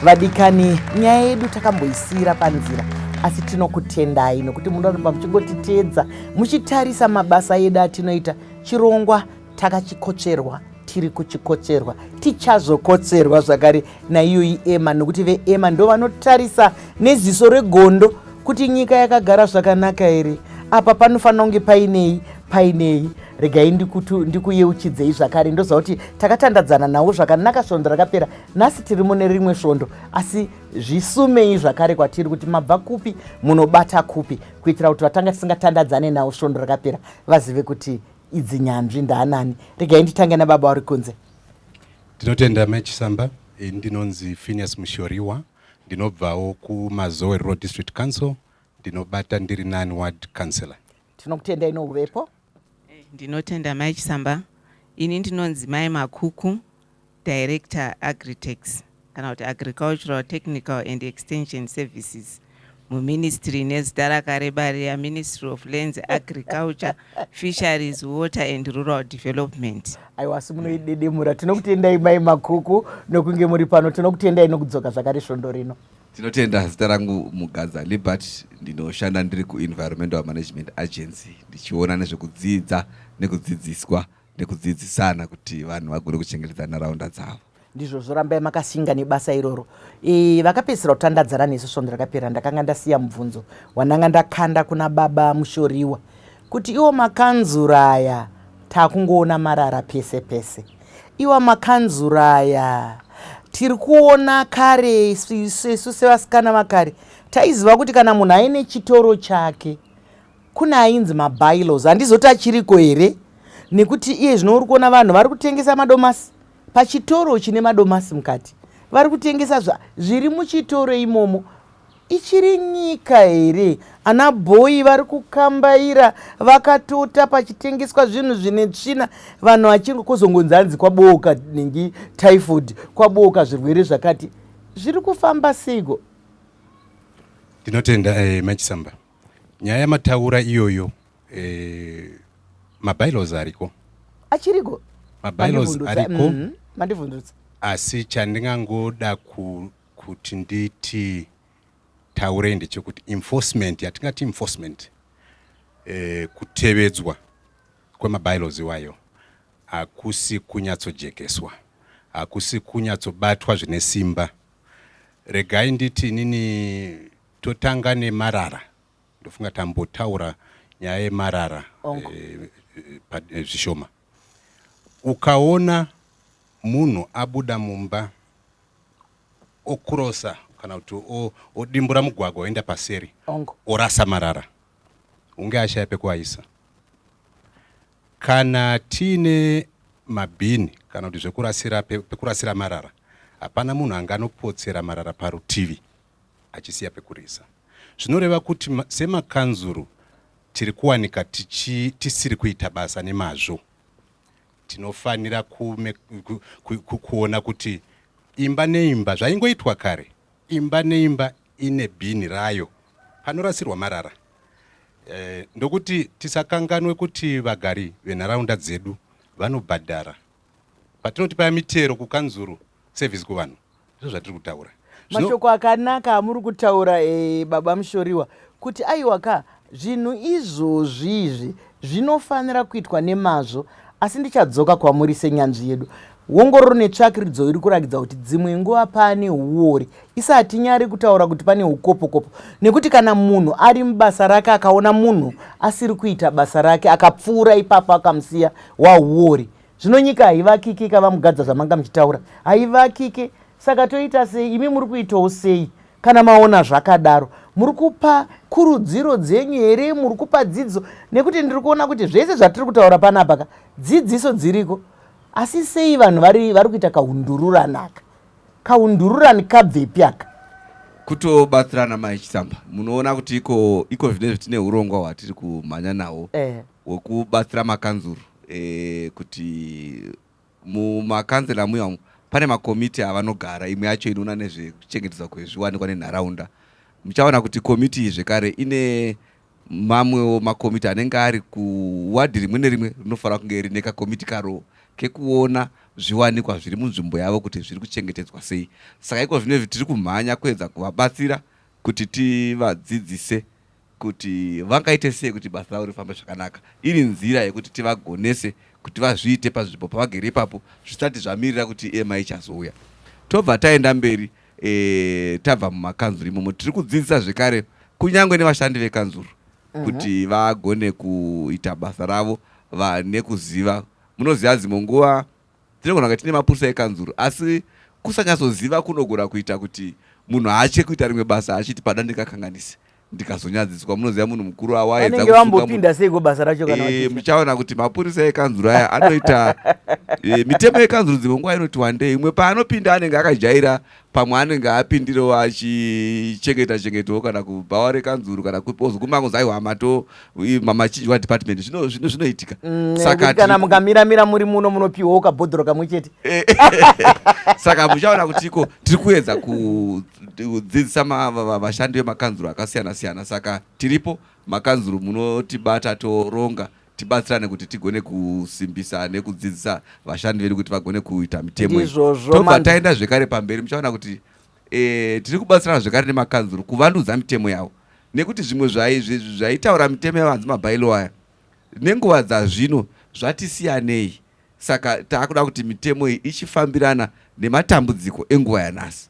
vadikani nyaya yedu takamboisiira panzira asi tinokutendai nokuti munoramba muchingotiteedza muchitarisa mabasa edu atinoita chirongwa takachikocherwa tiri kuchikocherwa tichazokotserwa zvakare naiyoyi ema nokuti veema ndo vanotarisa neziso regondo kuti nyika yakagara zvakanaka here apa panofanira kunge painei painei regai ndikuyeuchidzei zvakare ndoziva kuti takatandadzana nawo zvakanaka svondo rakapera nhasi tiri mune rimwe svondo asi zvisumei zvakare kwatiri kuti mabva kupi munobata kupi kuitira kuti vatanga tisingatandadzane nawo svondo rakapera vazive kuti idzi nyanzvi ndaanani regai nditange nababa vari kunze ndinotenda mechisamba eh, ndinonzi phineas mushoriwa ndinobvawo kumazowe rural district council ndinobata ndiri nani ward councillor tinokutendai nouvepo eh, ndinotenda mai chisamba ini ndinonzi mai makuku director agritex kana kuti agricultural technical and extension services muministry nezita rakareba riya ministry of lands agriculture fisheries water and rural development aiwa si munoidedemura tinokutendai mai makuku nokunge muri pano tinokutendai nokudzoka zvakare svondo rino Tinotenda zita rangu Mugadza Libert ndinoshanda ndiri kuEnvironmental Management Agency ndichiona nezvekudzidza nekudzidziswa nekudzidzisana kuti vanhu vagone kuchengetedza nharaunda dzavo. Ndizvo zvorambai makasinga nebasa iroro. E, vakapedzisira kutandadzana nesu svondo rakapera ndakanga ndasiya mubvunzo wandanga ndakanda kuna baba Mushoriwa Kuti iwo makanzura aya takungoona marara pese pese iwa makanzura aya tiri kuona kare isu sevasikana vakare taiziva kuti kana munhu aine chitoro chake kune ainzi mabylos handizoti achiriko here nekuti iye zvino uri kuona vanhu vari kutengesa madomasi pachitoro chine madomasi mukati vari kutengesa zviri muchitoro imomo Ichiri nyika here? Ana bhoyi vari kukambaira vakatota pachitengeswa zvinhu zvine tsvina vanhu vachingo kozongonzi hanzi kwabooka nengi typhoid kwabooka zvirwere zvakati zviri kufamba seiko? Ndinotenda eh, Machisamba. Nyaya yamataura iyoyo eh, mabylaws ariko. Achiriko? Mabylaws ariko. Mm -hmm. Mandivhunzutsa. Asi chandingangoda ku Kuti nditi taurei ndechekuti enforcement yatingati enforcement eh, kutevedzwa kwemabylaws iwayo hakusi kunyatsojekeswa hakusi kunyatsobatwa zvine simba regai nditi inini totanga nemarara ndofunga tambotaura nyaya yemarara oh. eh, eh, eh, zvishoma Ukaona munhu abuda mumba okurosa kana kuti odimbura mugwagwa oenda paseri orasa marara hunge ashaya pekuaisa kana tiine mabhini kana kuti zvekurasira pekurasira marara hapana munhu anga anopotsera marara parutivi achisiya pekurisa zvinoreva kuti semakanzuru tiri kuwanika tichi, tisiri kuita basa nemazvo tinofanira kume, ku, ku, ku, kuona kuti imba neimba zvaingoitwa kare imba neimba ine bhini rayo panorasirwa marara e, ndokuti tisakanganwe kuti vagari venharaunda dzedu vanobhadhara patinoti paya mitero kukanzuru service kuvanhu ndozvatiri kutaura mashoko akanaka amuri kutaura e, baba mushoriwa kuti aiwa ka zvinhu izvozvi izvi zvinofanira kuitwa nemazvo asi ndichadzoka kwamuri senyanzvi yedu ongororo netsvakiridzo iri kurakidza kuti dzimwe nguva pane uori isi hatinyari kutaura kuti pane ukopokopo nekuti kana munhu ari mubasa rake akaona munhu asiri kuita basa rake akapfuura ipapo akamusiya wauori Zvino nyika haivakiki ikavamugadza zvamanga muchitaura haivakiki saka toita sei imi muri kuitawo sei kana maona zvakadaro muri kupa kurudziro dzenyu here muri kupa dzidziso nekuti ndiri kuona kuti zvese zvatiri kutaura panapa ka dzidziso dziriko asi sei vanhu vari vari kuita kaundururani aka kaundururani kabvepi aka kutobatsirana mai chitsamba munoona kuti iko iko zvine zvitine urongwa hwatiri kumhanya nawo eh. wekubatsira makanzuru e, kuti mumakanzela muya umu pane makomiti avanogara imwe yacho inoona nezvekuchengetedzwa kwezviwanikwa nenharaunda muchaona kuti komiti iyi zvekare ine mamwewo makomiti anenge ari kuwadhi rimwe nerimwe rinofanira kunge rine kakomiti karoo kekuona zviwanikwa zviri munzvimbo yavo kuti zviri kuchengetedzwa sei saka iko zvino izvi tiri kumhanya kuedza kuvabatsira kuti tivadzidzise kuti vangaite sei kuti basa ravo rifambe zvakanaka iri nzira yekuti tivagonese kuti vazviite pazvipo pavagere ipapo zvisati zvamirira kuti ema ichazouya tobva taenda mberi e, tabva mumakanzuru imomo tiri kudzidzisa zvekare kunyange nevashandi vekanzuru mhm. kuti vagone kuita basa ravo vane kuziva munoziva dzimwe nguva Tinogona kunge tine mapurisa ekanzuru asi kusanyatsoziva kunogona kuita kuti munhu aache kuita rimwe basa achiti pada ndingakanganise ndikazonyadziswa munoziva munhu mukuru awaedzavambopinda seiko basa racho kana e, muchaona kuti mapurisa ekanzuru aya anoita e, mitemo yekanzuru dzimwe nguva inoti wandei imwe paanopinda anenge akajaira pamwe anenge apindirewo achichengeta chengetawo kana kubhawa rekanzuru kana ozoguma kunzi aiwa mato mamachinjwa department zvinoitika mm, saka kana mukamiramira muri muno munopiwawo kabhodhoro kamwe chete eh, eh, eh, saka muchaona kuti iko tiri kuedza kudzidzisa vashandi vemakanzuru akasiyana siyana saka tiripo makanzuru munotibata toronga tibatsirane kuti tigone kusimbisa nekudzidzisa vashandi vedu kuti vagone kuita mitemo tobva taenda zvekare pamberi muchaona kuti e, tiri kubatsirana zvekare nemakanzuru kuvandudza mitemo yavo nekuti zvimwe zvaitaura mitemo yavanzi mabailo aya nenguva dzazvino zvatisiyanei saka taakuda kuti mitemo iyi ichifambirana nematambudziko enguva yanhasi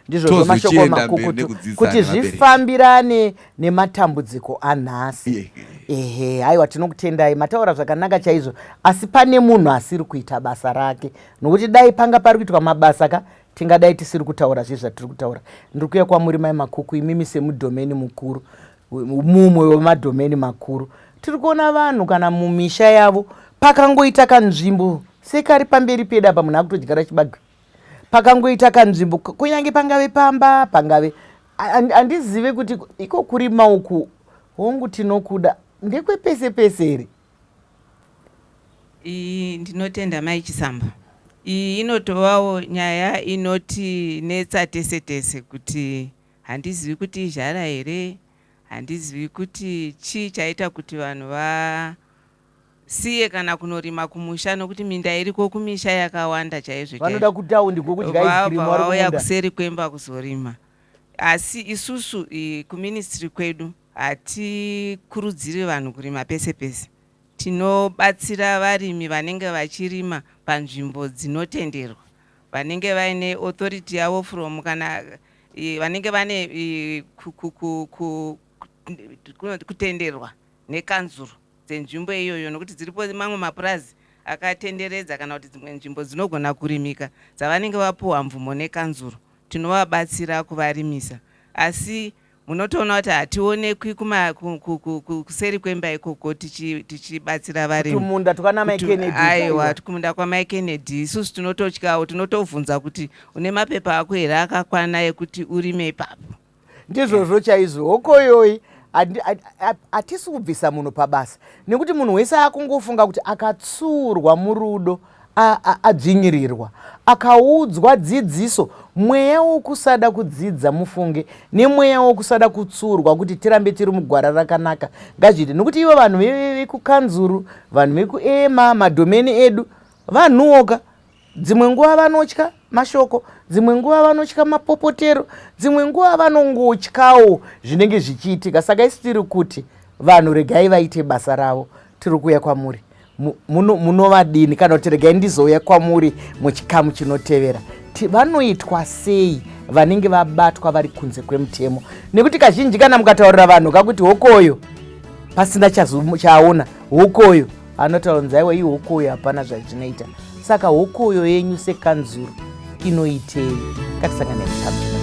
ndizvozvo mashoko makukutu kuti zvifambirane nematambudziko anhasi ehe haiwa tinokutendai mataura zvakanaka chaizvo asi pane munhu asiri kuita basa rake nokuti dai panga pari kuitwa mabasa ka tingadai tisiri kutaura zve zvatiri kutaura ndiri kuya kwamuri mai makuku imimi semudhomeni mukuru mumwe wemadhomeni makuru tiri kuona vanhu kana mumisha yavo pakangoita kanzvimbo sekari pamberi pedu apa munhu akutodyara chibage pakangoita kanzvimbo kunyange pangave pamba pangave handizive and, kuti iko kurima uku hongu tinokuda ndekwepese pese here iyi ndinotenda mai chisamba iyi inotovawo nyaya inoti netsa tese tese kuti handizivi kuti izhara here handizivi kuti chii chaita kuti vanhu va Siye kana kunorima kumusha nokuti minda iriko kumisha yakawanda chaizvo chaizvo. Vanoda kutaundi ko kudya ice cream vari kumunda. Vauya kuseri kwemba kuzorima asi isusu ku ministry kwedu hatikurudziri vanhu kurima pese pese. Tinobatsira varimi vanenge vachirima panzvimbo dzinotenderwa vanenge vaine authority yavo from kana vanenge vane kutenderwa nekanzuru. dzenzvimbo iyoyo nokuti dziripo mamwe mapurazi akatenderedza kana kuti dzimwe nzvimbo dzinogona kurimika dzavanenge vapuhwa mvumo nekanzuru tinovabatsira kuvarimisa asi munotoona kuti hationekwi kuseri kwemba ikoko tichibatsira varimumunda aiwa kumunda kwamai kennedy isusu tinototyawo tinotobvunza kuti une mapepa ako here akakwana ekuti urime ipapo ndizvozvo chaizvo hokoyoyi hatisi kubvisa munhu pabasa nekuti munhu wese akungofunga kuti akatsuurwa murudo adzvinyirirwa akaudzwa dzidziso mweya wokusada kudzidza mufunge nemweya wokusada kutsuurwa kuti tirambe tiri mugwara rakanaka ngazviite nokuti ivo vanhu vekukanzuru vanhu vekuema madomeni edu vanhuwoka Dzimwe nguva vanotya mashoko, dzimwe nguva vanotya mapopotero, dzimwe nguva vanongotyawo zvinenge zvichiitika. Saka isi tiri kuti vanhu regai vaite basa ravo, tiri kuuya kwamuri munovadini muno kana kuti regai ndizouya kwamuri muchikamu chinotevera vanoitwa sei vanenge vabatwa vari kunze kwemutemo nekuti kazhinji kana mukataurira vanhu kakuti hokoyo pasina chaaona hokoyo Anotaura kunzi aiwa ihuku uyo hapana zvazvinoita. Saka huku uyo yenyu sekanzuru inoitei? Ngatisangane mutambo.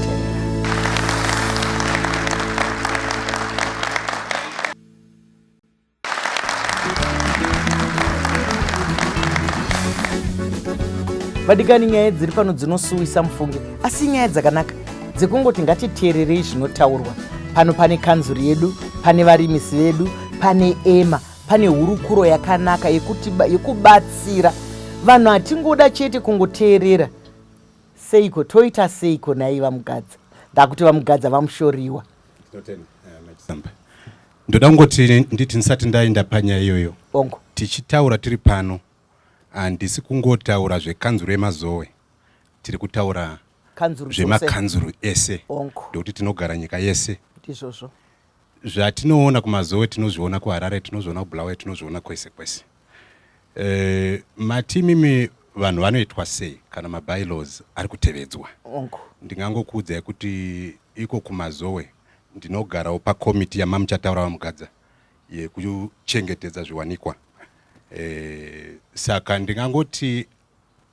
vadikani nyaya dziri pano dzinosuwisa mufunge asi nyaya dzakanaka dzekungoti ngatiteererei zvinotaurwa pano pane kanzuri yedu pane varimisi vedu pane ema Pane hurukuro yakanaka yekuti yekubatsira vanhu hatingoda chete kungoteerera seiko toita seiko nai vamugadza ndakuti vamugadza vamushoriwa ndoda kungoti nditi ndisati ndaenda panyaya iyoyo bongo tichitaura tiri pano handisi kungotaura zvekanzuru yemazowe tiri kutaura zvemakanzuru ese ndokuti tinogara nyika yese ndizvozvo Zvatinoona kumazowe tinozviona kuharare tinozviona kubulawayo tinozviona kwese kwese e, matimimi vanhu vanoitwa sei kana mabylaws ari kutevedzwa ndingangokuudzai kuti iko kumazowe ndinogarawo pakomiti yamamuchataura vamugadza yekuchengetedza zviwanikwa e, saka ndingangoti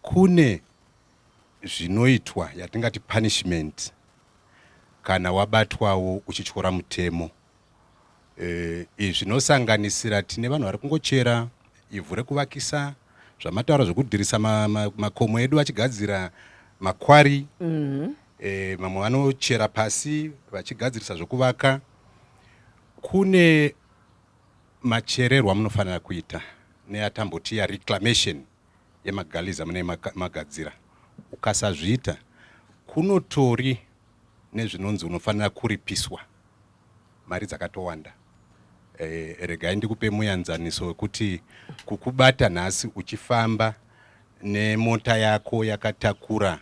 kune zvinoitwa yatingati punishment kana wabatwawo uchityora mutemo e, izvi zvinosanganisira tine vanhu vari kungochera ivhu rekuvakisa zvamataura zvekudirisa makomo ma, ma edu achigadzira makwari mm -hmm. e, mamwe vanochera pasi vachigadzirisa zvekuvaka kune machererwa munofanira kuita neatamboti ya reclamation yemagaliza mune magadzira ukasazviita kunotori nezvinonzi unofanira kuripiswa mari dzakatowanda e, regai ndikupe muyanzaniso wekuti kukubata nhasi uchifamba nemota yako yakatakura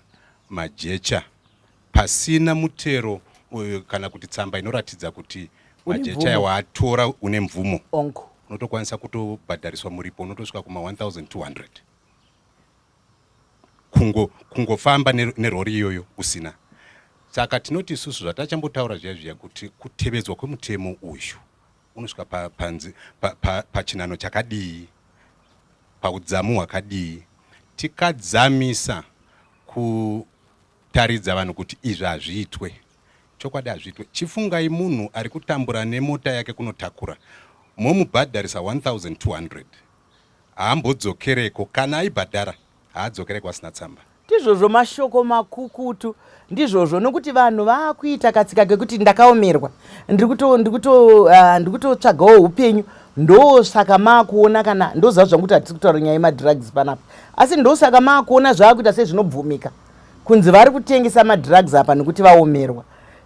majecha pasina mutero uyu kana kuti tsamba inoratidza kuti majecha ayo waatora une mvumo unotokwanisa kutobhadhariswa muripo unotosvika kuma 1200 kungo kungofamba nerori iyoyo usina saka tinoti isusu zvatachambotaura zviya zviya kuti kutevedzwa kwemutemo uyu unosvika panzi pachinano chakadii paudzamu hwakadii tikadzamisa ku taridza vanhu kuti izvi hazviitwe chokwadi hazviitwe chifungai munhu ari kutambura nemota yake kunotakura momubhadharisa 1200 haambodzokereko kana aibhadhara haadzokereko asina tsamba ndizvozvo mashoko makukutu ndizvozvo nokuti vanhu vaakuita katsika kekuti ndakaomerwa ndikutotsvagawo ah, upenyu ndosaka maakuona kana ndoziva zvangu kuti hatisi kutaura nyaya yemadrugs panapa asi ndosaka maakuona zvaakuita sezvinobvumika kunzi vari kutengesa madrugs apa nekuti vaomerwa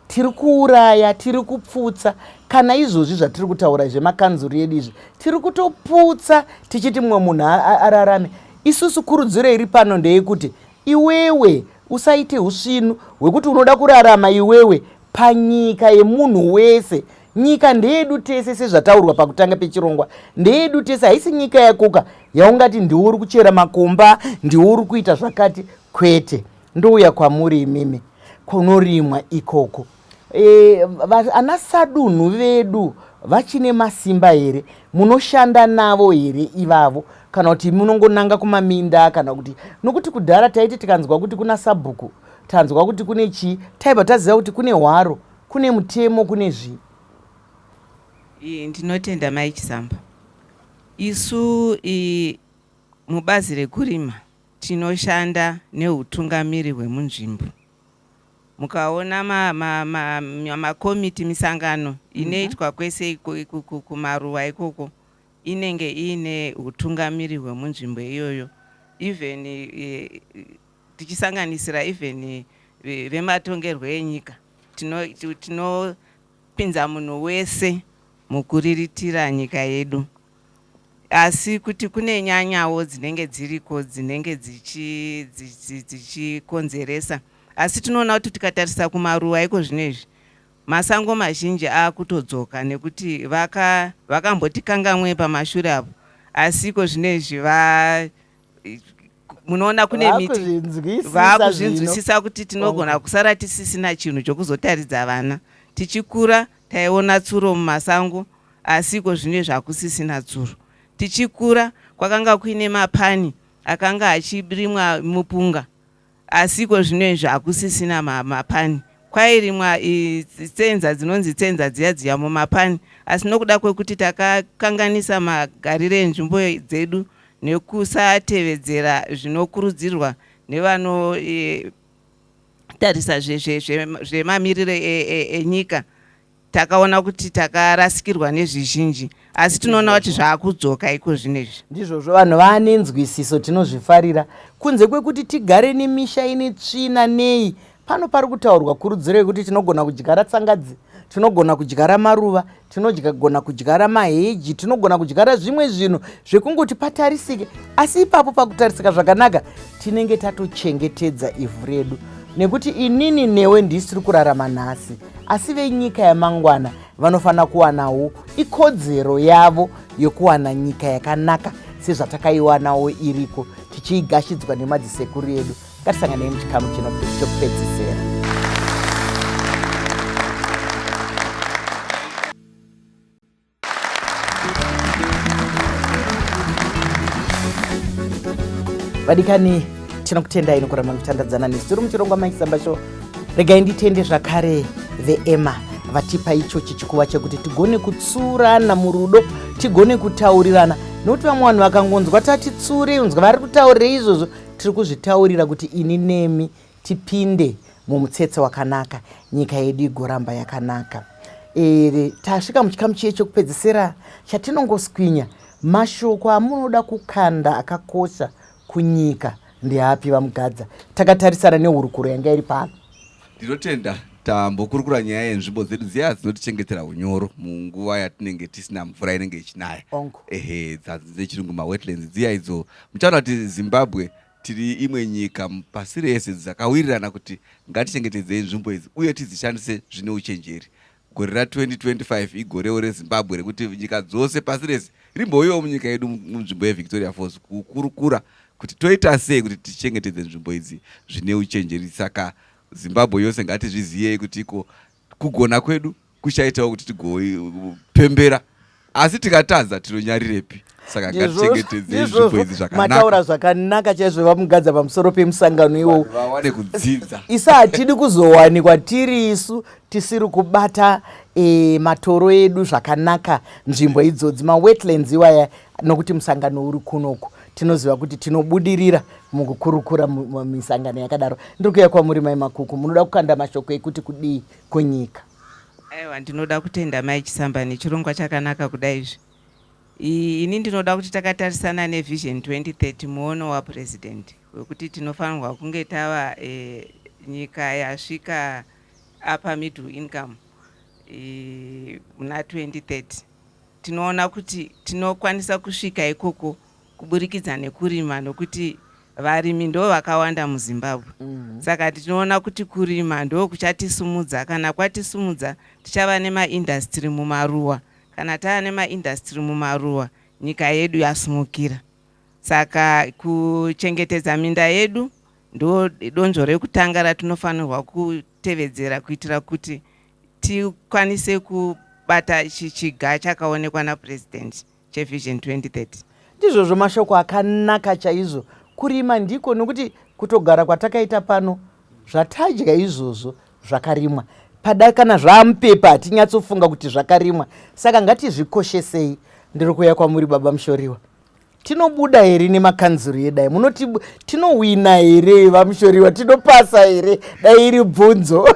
tiri kuuraya tiri kupfutsa kana izvozvi zvatiri kutaura zvemakanzuru edu izvi tiri kutoputsa tichiti mumwe munhu ararame isusu kurudziro iri pano ndeyekuti iwewe usaite usvinu hwekuti unoda kurarama iwewe panyika yemunhu wese Nyika ndeyedu tese sezvataurwa pakutanga pechirongwa, ndeyedu tese, haisi nyika yakoka yaungati ndiwo uri kuchera makomba, ndiwo uri kuita zvakati, kwete. Ndouya kwamuri imimi, kunorimwa ikoko. E, ana sadunhu vedu vachine masimba here munoshanda navo here ivavo kana kuti munongonanga kumaminda kana kuti nokuti kudhara taiti tikanzwa kuti kuna sabhuku tanzwa kuti kune chii taibva taziva kuti kune hwaro Kune mutemo kune zvii. Iyi ndinotenda mai Chisamba. Isu iyi mubazi rekurima tinoshanda neutungamiri hwemunzvimbo mukaona makomiti misangano mhm. inoitwa kwese kumaruwa ikoko inenge iine utungamiri hwemunzvimbo iyoyo even e, tichisanganisira even vematongerwo enyika tinopinza tino munhu wese mukuriritira nyika yedu asi kuti kune nyanyawo dzinenge dziriko dzinenge dzichikonzeresa dzichi, dzichi asi tinoona kuti tikatarisa kumaruwa iko zvino izvi masango mazhinji akutodzoka nekuti vakambotikangamwe vaka pamashure apo asi iko zvino izvi munoona kune miti vaakuzvinzwisisa kuti tinogona kusara tisisina chinhu chokuzotaridza vana tichikura taiona tsuro mumasango asi iko zvino zvakusisina tsuro tichikura kwakanga kuine mapani akanga achirimwa mupunga Asi ikozvino izvi hakusisina ma, mapani. Kwairimwa i, tsenza dzinonzi tsenza dziya dziya mumapani, asi nokuda kwekuti takakanganisa magarire enzvimbo dzedu nekusatevedzera zvinokurudzirwa nevano e, tarisa zvemamiriro zve, zve, zve, enyika takaona kuti takarasikirwa nezvizhinji asi tinoona kuti zvaakudzoka iko zvinezvi ndizvozvo vanhu vaane nzwisiso tinozvifarira kunze kwekuti tigare nemisha ine tsvina nei pano pari kutaurwa kurudziro yekuti tinogona kudyara tsangadzi tinogona kudyara maruva tinogona kudyara maheji tinogona kudyara zvimwe zvinhu zvekungoti patarisike asi ipapo pakutarisika zvakanaka tinenge tatochengetedza ivhu redu nekuti inini newe ndisiri kurarama nhasi asi venyika yamangwana vanofanira kuwanawo ikodzero yavo yokuwana nyika yakanaka sezvatakaiwanawo iriko tichiigashidzwa nemadzisekuru edu ngatisanganei muchikamu chino chokupedzisera vadikani tinokutendai nokuramba muchitandadzana nesu tiri muchirongwa maisamba sho regai nditende zvakare veema vatipa icho chichikuva chekuti tigone kutsurana murudo tigone kutaurirana nokuti vamwe vanhu vakangonzwa tatitsure unzwa vari kutaurira izvozvo tiri kuzvitaurira kuti ini nemi tipinde mumutsetse wakanaka nyika yedu igoramba yakanaka ere tasvika muchikamu chiye chekupedzisira chatinongoswinya mashoko amunoda kukanda akakosha kunyika ndeapi vamugadza takatarisana nehurukuro yanga iri pano ndinotenda tambokurukura nyaya yenzvimbo dzedu dziya dzinotichengetera unyoro munguva yatinenge tisina mvura inenge ichinaya ehe dzechirungu mawetlands dziya idzo muchaona kuti zimbabwe Tiri imwe nyika pasi rese dzakawirirana kuti ngatichengetedzei nzvimbo idzi uye tidzishandise zvine uchenjeri. Gore ra 2025 igorewo reZimbabwe rekuti nyika dzose pasi rese rimbouyawo munyika yedu munzvimbo yeVictoria Falls kukurukura kuti toita sei kuti tichengetedze nzvimbo idzi zvine uchenjeri. Saka Zimbabwe yose ngatizviziyei kuti iko kugona kwedu kuchaitawo kuti tigopembera asi tikatadza tinonyarirepi saka ngatichengetedzei zvipo izvi zvakanamataura zvakanaka chaizvo vamugadza pamusoro pemusangano iwowo vawane kudzidza isa hatidi kuzowanikwa tiri isu tisiri kubata e, matoro edu zvakanaka nzvimbo idzodzi mawetlands iwaya nokuti musangano uri kunoku tinoziva kuti tinobudirira mukukurukura misangano yakadaro ndiri kuya kwamuri mai makuku munoda kukanda mashoko ekuti kudii kwenyika. Aiwa ndinoda kutenda mai Chisamba nechirongwa chakanaka kudai izvi. Ini ndinoda kuti takatarisana neVision 2030 muono waPresident wekuti tinofanirwa kunge tava e, nyika yasvika upper middle income muna e, 2030 tinoona kuti tinokwanisa kusvika ikoko kuburikidza nekurima nokuti varimi ndo vakawanda muzimbabwe mm -hmm. saka tinoona kuti kurima ndo kuchatisumudza kana kwatisumudza tichava nemaindastry mumaruwa kana tava nemaindastry mumaruwa nyika yedu yasumukira saka kuchengetedza minda yedu ndo donzvo rekutanga ratinofanirwa kutevedzera kuitira kuti tikwanise kubata chichiga chakaonekwa napurezidendi chevision 2030. Ndizvozvo mashoko akanaka chaizvo. Kurima ndiko nokuti kutogara kwatakaita pano zvatadya izvozvo zvakarimwa pada kana zvaamupepa hatinyatsofunga kuti zvakarimwa saka ngatizvikoshesei ndiri kuuya kwamuri baba mushoriwa tinobuda here nemakanzuru yedai munoti tinowina here vamushoriwa tinopasa here dai iri bvunzo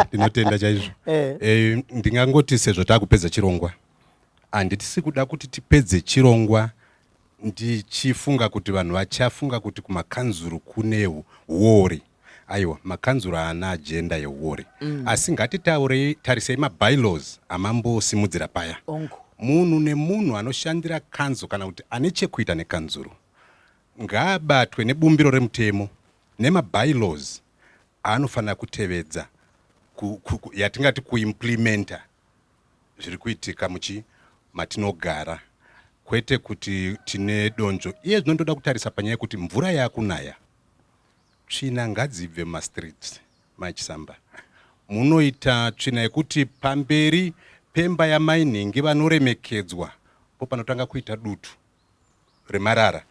ndinotenda chaizvo eh. eh, ndingangoti sezvo taakupedza chirongwa Handisi kuda kuti tipedze chirongwa ndichifunga kuti vanhu vachafunga kuti kumakanzuru kune huori. Aiwa, makanzuru haana agenda yehuori. Mm. Asi ngatitaurei, tarisei mabylaws amambosimudzira paya. Ongo. Munhu nemunhu anoshandira kanzu kana kuti ane chekuita nekanzuru ngaabatwe nebumbiro remutemo nemabylaws aanofanira kutevedza yatingati kuimplimenta zviri kuitika muchi matinogara kwete kuti tine donzvo iye zvino ndoda kutarisa panyaya yekuti mvura yakunaya tsvina ngadzibve mumastreet machisamba munoita tsvina yekuti pamberi pemba yamai nhingi vanoremekedzwa po panotanga kuita dutu remarara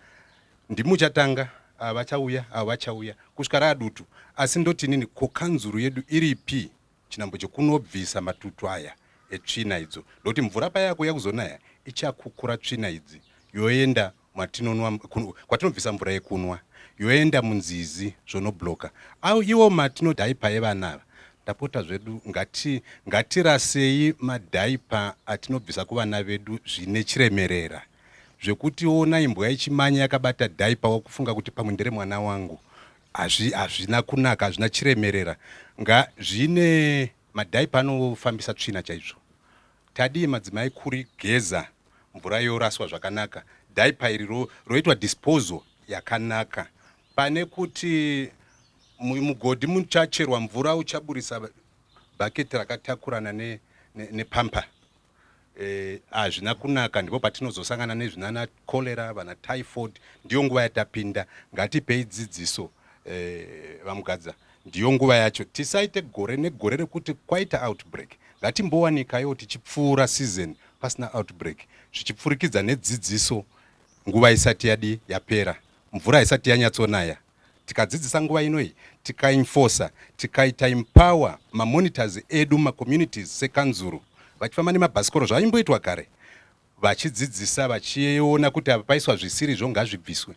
ndimuchatanga ava vachauya ava vachauya kusvika raadutu asi ndotinini ko kanzuru yedu iripi Chinhambo chekunobvisa matutu aya etsvina idzo ndokuti mvura paya yakuuya kuzonaya ichakukura tsvina idzi yoenda mwatinonwa kwatinobvisa mvura yekunwa yoenda munzizi zvonobloka au iwo matinodhaipa evana ava ndapota zvedu ngati ngatirasei madhaipa atinobvisa kuvana vedu zvine chiremerera zvekuti ona imbwa yechimanya yakabata dhaipa wakufunga kuti pamwe ndere mwana wangu Hazvi hazvina kunaka hazvina chiremerera nga zvine madhaipa anofambisa tsvina chaizvo. Tadii madzimai kuri geza mvura yoraswa zvakanaka dhaipa iri ro, roitwa disposal yakanaka pane kuti mugodhi muchacherwa mvura uchaburisa bhaketi rakatakurana ne, ne, nepampa. hazvina eh, kunaka ndipo patinozosangana nezvinana cholera vana typhoid ndiyo nguva yatapinda ngatipei dzidziso eh, vamugadza ndiyo nguva yacho tisaite gore negore rekuti kwaita outbreak ngatimbowanikayo tichipfuura season pasina outbreak zvichipfurikidza nedzidziso nguva isati yadi yapera mvura isati yanyatsonaya tikadzidzisa nguva ino iyi tikainfosa tikaita empower mamonitors edu macommunities sekanzuru vachifamba nemabhasikoro zvaimboitwa kare vachidzidzisa vachiona kuti apa paiswa zvisiri zvo ngazvibviswe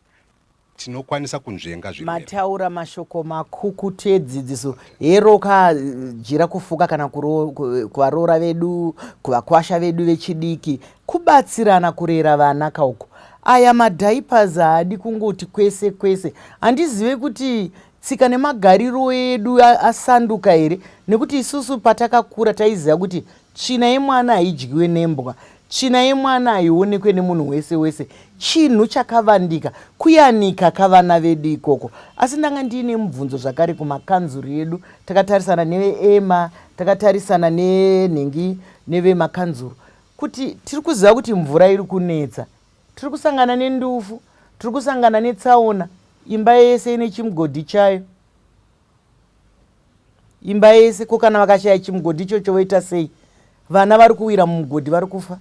tinokwanisa kunzvenga zvi mataura mashoko makukutu edzidziso hero ka jira kufuka kana kuvaroora vedu kuvakwasha vedu vechidiki Kubatsirana kurera vana ka uku. Aya madiapers haadi kungoti kwese kwese. Handizive kuti tsika nemagariro edu asanduka here nekuti isusu patakakura taiziva kuti tsvina yemwana haidyiwe nembwa, tsvina yemwana haionekwe nemunhu wese wese, chinhu chakavandika kuyanika ka vana vedu ikoko. Asi ndanga ndiine mubvunzo zvakare kumakanzuru edu. Takatarisana neveEma, takatarisana nenhingi nevemakanzuru. Kuti tiri kuziva kuti mvura iri kunetsa, tiri kusangana nendufu, tiri kusangana netsaona, imba yese ine chimugodhi chayo. Imba yese, ko kana vakashaya chimugodhi ichocho voita sei? Vana vari kuwira mumugodhi vari kufa.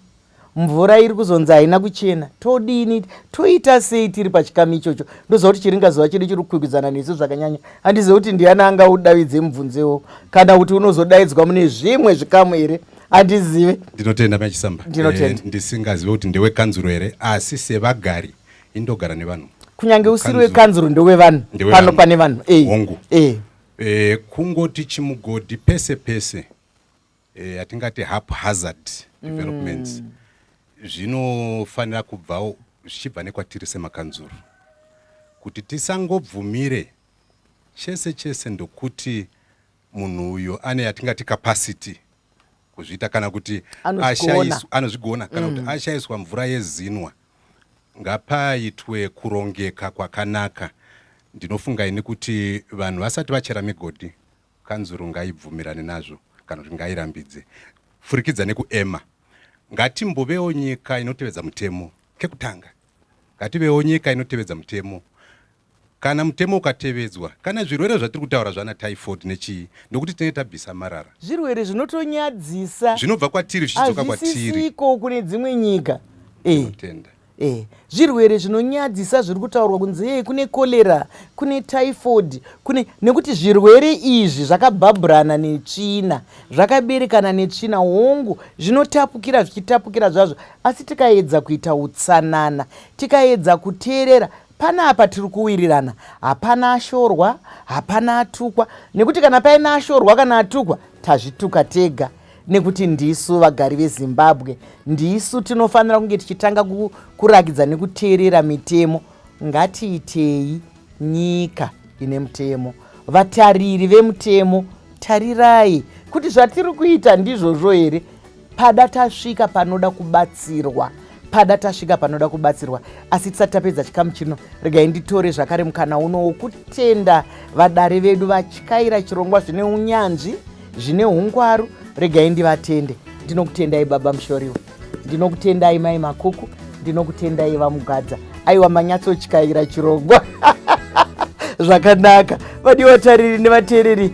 Mvura iri kuzonzi haina kuchena. Todini? Toita sei tiri pachikamu ichocho? Ndoziva kuti chiringa zuva chedu chiri kukwikwidzana nesu zvakanyanya. Handizivi kuti ndiani anga udavidze mubvunzewo kana kuti unozodaidzwa mune zvimwe zvikamu here? handizive ndinotenda machisamba Ndinotenda. Eh, ndisingazive kuti ndewekanzuro here asi sevagari indogara nevanhu kunyange usiri Kanzuru. wekanzuru ndowevanhu Ndewe pano vanhu. pane vanhu Eh, Hongu. eh. Eh, kungoti chimugodhi pese pese eh, hatingati haphazard developments zvinofanira kubvawo zvichibva nekwatiri semakanzuru kuti tisangobvumire chese chese ndokuti Munhu uyu ane yatingati capacity kuzviita kana kuti anozvigona kana kuti mm. ashaiswa mvura yezinwa ngapaitwe kurongeka kwakanaka ndinofunga ini kuti vanhu vasati vachera migodhi kanzuru ngaibvumirane nazvo kana kuti ngairambidze furikidza nekuema ngatimbovewo nyika inotevedza mutemo kekutanga ngativewo nyika inotevedza mutemo Kana mutemo ukatevedzwa, kana zvirwere zvatiri kutaura zvana typhoid nechii, ndokuti tinenge tabvisa marara. Zvirwere zvinotonyadzisa. Zvinobva kwatiri zvichidzoka kwatiri. Hazvisisiko kune dzimwe nyika. Eh. Tinotenda. Eh, zvirwere zvinonyadzisa zviri kutaurwa kunzi yei kune cholera kune typhoid kune nekuti zvirwere izvi zvakabhabhurana netsvina zvakaberekana netsvina hongu zvinotapukira zvichitapukira zvazvo asi tikaedza kuita utsanana tikaedza kuteerera Panapa tiri kuwirirana, hapana ashorwa, hapana atukwa nekuti kana paine ashorwa kana atukwa tazvituka tega nekuti ndisu vagari veZimbabwe ndisu tinofanira kunge tichitanga kurakidza nekuteerera mitemo. Ngatiitei nyika ine mutemo. Vatariri vemutemo, tarirai kuti zvatiri kuita ndizvozvo here pada tasvika panoda kubatsirwa pada tasvika panoda kubatsirwa asi tisati tapedza chikamu chino regai nditore zvakare mukana uno wokutenda vadare vedu vatyaira chirongwa zvine unyanzvi zvine ungwaru regai ndivatende ndinokutendai baba mushoriwo ndinokutendai mai makuku ndinokutendai vamugadza aiwa manyatsotyaira chirongwa zvakanaka vadiwa tariri nevateereri